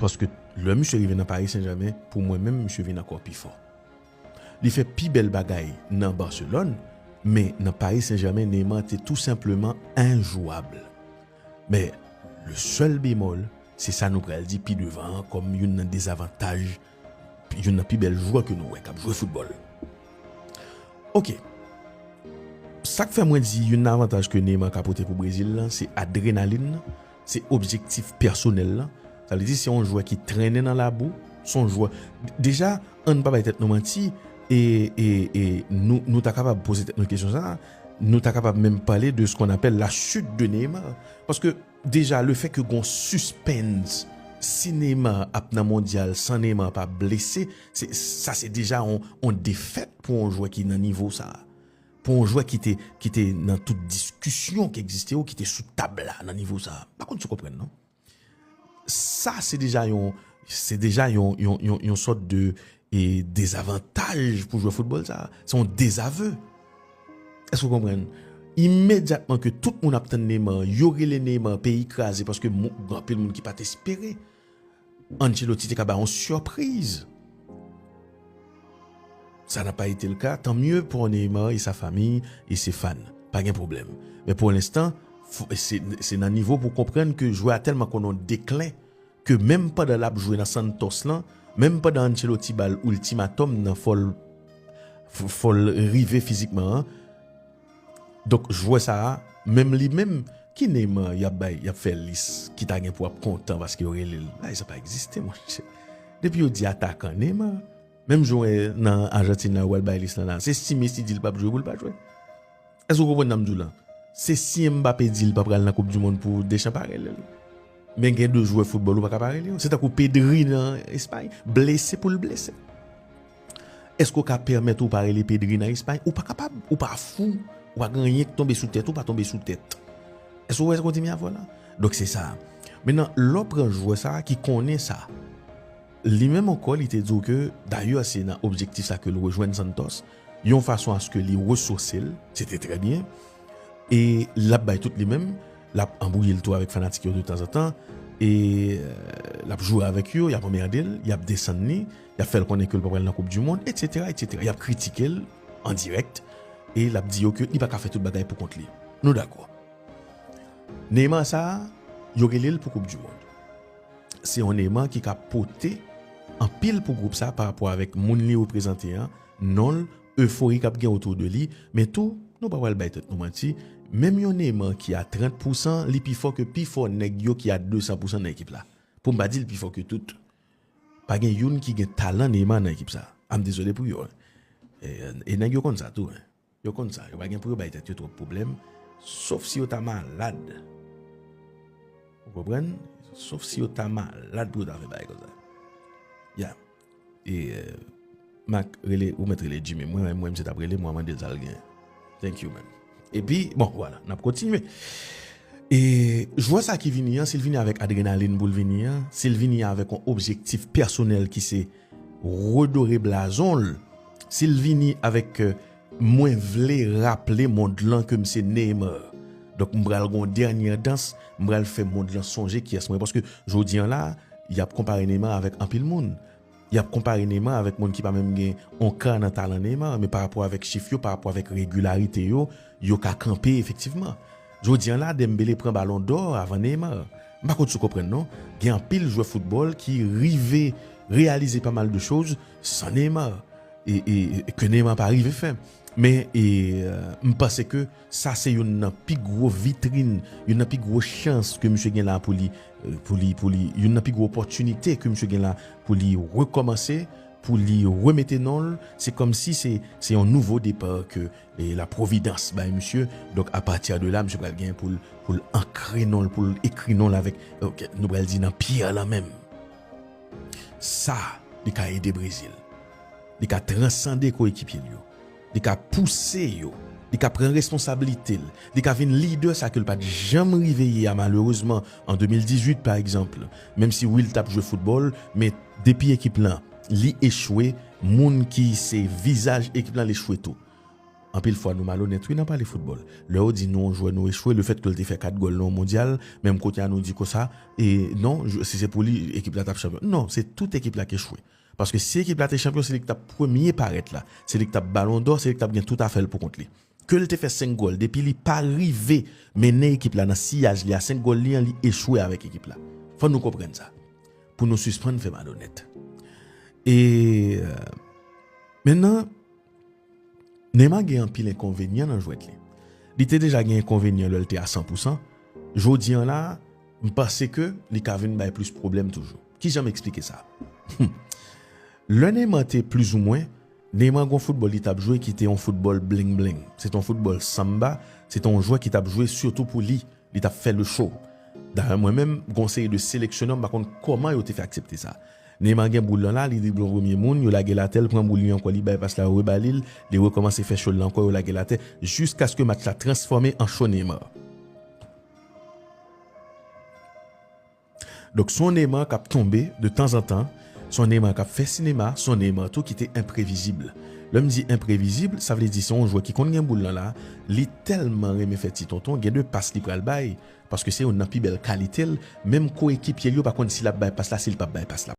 Paske lè misye rive nan Paris Saint-Germain, pou mwen menm misye vin ankò pi fò. Li fè pi bèl bagay nan Barcelone, men nan Paris Saint-Germain Neymar te tou senpleman enjouwab. Men, le sèl bemòl, se sa nou pral di pi devan an kòm youn nan dezavantaj youn nan pi bèl jwè ke nou wè k ap jwe foutbòl. Ok. Sa k fè mwen di youn nan avantaj ke Neymar ka pote pou Brezil lan, se adrenalin Se objektif pèsonèl lan. Sa vle di se yon jwè ki trennen nan labou, se yon jwè, deja ann pa bay tèt nou manti e nou ta kapab poze tèt nou kesyon sa a, nou ta kapab menm pale de skon apèl la chute de Neymar paske deja le fè ke gon suspens si Neymar ap nan mondyal san Neymar pa blese sa se deja yon defèt pou yon jwè ki nan nivo sa a. pou yon jwè ki te ki te nan tout diskisyon ki egziste yo ki te sou tab la nan nivo sa pa konn si w konprann non sa se deja yon se deja yon yon sòt de e dezavantaj pou jwè foutbòl sa se yon dezave èske w konprann imedyatman ke tout moun ap tann Neymar yo rele Neymar peyi kraze paske moun anpil moun ki pa t espere Ancelotti te ka bay yon surpriz. Sa na pa ete le ka, tan mye pou Neymar e sa famiy e se fan. Pa gen pwoblem. Men pou lenstan, se nan nivo pou konprann ke jwè a telman konn yon deklen ke menm pandan lap jwe nan Santos lan, menm pandan Ancelotti bal ultimatum nan fol rive fizikman an, Donk jwè sa a menm li menm ki Neymar yap bay yap fè lis ki ta gen pou ap kontan paske yo rele l bagay sa pa egziste monchè depi yo di atakan Neymar menm jwè nan Argentine la yo pral bay lis lan la se si Messi di l pap jwe pou l pa jwe èske ou konprann sa m di w lan se si Mbappé di l pa pral nan koup di mond pou Deschamps pa rele l men gen de jwè foutbòl ou pa ka pa rele yo se tankou Pedri nan Espagne blese pou l blese. Èske w ka pèmèt ou pa rele Pedri nan Espay? Ou pa kapab, ou pa fou, ou pa gen anyen ki tonbe sou tèt ou pa tonbe sou tèt. Èske w wè sa kontinye avè w la? Donk se sa. Menan, lè w pran jwè sa ki konnen sa, li menm ankò li te di w ke, dayè se nan objektif sa ke l rejwenn Santos, yon fason aske li resose l, se te trè byen, e l ap bay tout li menm, l ap anbwouye l tou avèk fanatik yo de tanzantan, e l ap jwe avèk yo, y ap anmède l, y ap desann li. Y ap fè l konnen ke l pa pral nan koup di mond etsetera etsetera. Y ap kritike l an dirèkt e l ap di yo ke li pa ka fè tout bagay pou kont li. Nou dakò. Neymar sa a, yo rele l pou koup di mond. Se yon Neymar ki ka pote anpil pou gwoup sa a parapò avèk moun li reprezante an, non l, efori k ap gen otou de li. Men tou, nou pa pral bay tèt nou manti, menm yon Neymar ki a 30 pousan, li pi fò ke pi fò nèg yo ki a 200 pousan nan ekip la. Pou m pa di l pi fò ke tout. Pa gen youn ki gen talan Neymar nan ekip sa. Am dezole pou yo. E nèg yo konn sa tou. Yo konn sa. Yo pa gen pou yo bay tèt yo twòp pwoblèm. Sof si yo ta malad. Ou konprann? Sof si yo ta malad pou yo ta fè bagay konsa. Ya. E. Mac rele ou met rele Jimmy mwen menm mwen misye tap relem wap mandel sal gen thank you man epi bon wala nap kontinye e jwè sa ki vini an sil vini avèk adrenalin poul vini an sil vini avèk yon objektif pèsonèl ki se redore blazonl sil vini avèk mwen vle raple mond lan kem se Neymar donk m pral gon dènyè dans m pral fè mond lan sonje kiyès mwen paske jodi an la yap konpare Neymar avèk anpil moun. Yap konpare Neymar avèk moun ki pa menm gen on ka nan talan Neymar, men pa rapò avèk chif yo, pa rapò avèk regilarite yo, yo ka kanpe efektivman. Jodi an la Dembele pran balon dò avan Neymar. M pa konn si w konprann non, gen anpil jwè foutbòl ki rive reyalize pa mal de choz san Neymar e ke Neymar pa rive fè. Men e m panse ke. Sa se youn nan pi gwo vitrin, youn nan pi gwo chans ke misye gen la pou li, pou li, pou li, youn nan pi gwo opòtinite ke misye gen la pou li rekòmanse, pou li remete non l. Se kòmsi se, se yon nouvo depa ke la pwovidans bay misye. Donk a pati de la, misye pral gen pou l, pou l ankre non l, pou l ekri non l avèk, nou pral di nan pyè lan menm. Sa li ka ede Brezil. Li ka transande koyekipye l yo. Li ka pouse yo, li ka pran responsablite l, li ka vin lidè sa ke l pa t janm rive ye a malerezman an 2018 pa egzanp menm si wi l t ap jwe foutbòl men depi ekip lan li echwe moun ki se vizaj ekip lan l echwe tou. Anpil fwa nou malonèt wi nan pale foutbòl lè yo di nou yon jwè nou echwe le fèt ke l te fè 4 gòl nan yon mondyal menm kote a nou di konsa e non si se pou li ekip la t ap chanpyon non se tout ekip la k echwe Paske si ekip la te chanpyon se li ki tap premye parèt la, se li ki tap balon dò, se li ki tap gen tout afè l pou kont li. Ke l te fè 5 gòl depi li pa rive mennen ekip la nan siyaj li a 5 gòl li an li echwe avèk ekip la. Fò nou konprann sa pou nou sispann fè malonèt. E mennan Neymar gen anpil enkonvenyan nan jwèt li. Li te deja gen enkonvenyan lè l te a 100 pousan, jodi an la m panse ke li ka vin bay plis pwoblèm toujou. Kijan m eksplike sa? Humm. Lè Neymar te plizoumwen, Neymar gen yon foutbòl li t ap jwe ki te yon foutbòl bling bling. Se te yon foutbòl samba, se te yon jwè ki t ap jwe sitou pou li, li t ap fè le show. Dayè mwen menm, gen yon seri de seleksyonè m pa konn kòman yo te fè aksepte sa. Neymar gen boul lan la, li drible yon premye moun, yo lage l atè, l pran boul li ankò, li bay pas la, yo reba li l, li rekòmanse fè show l lan ankò, yo lage l atè, jiskaske match la transfòme an show Neymar. Donk son Neymar kap tonbe de tanzantan, son Neymar kap fè sinema, son Neymar tou ki te enprevizib. Lèm di enprevizib, sa vle di se yon jwè ki konn gen boul lan la, li tèlman renmen fè ti tonton, gen de pas li pral bay, paske se youn nan pi bèl kalitel, menm koekipyel yo pa konn si lap bay pas la, sil pap bay pas la.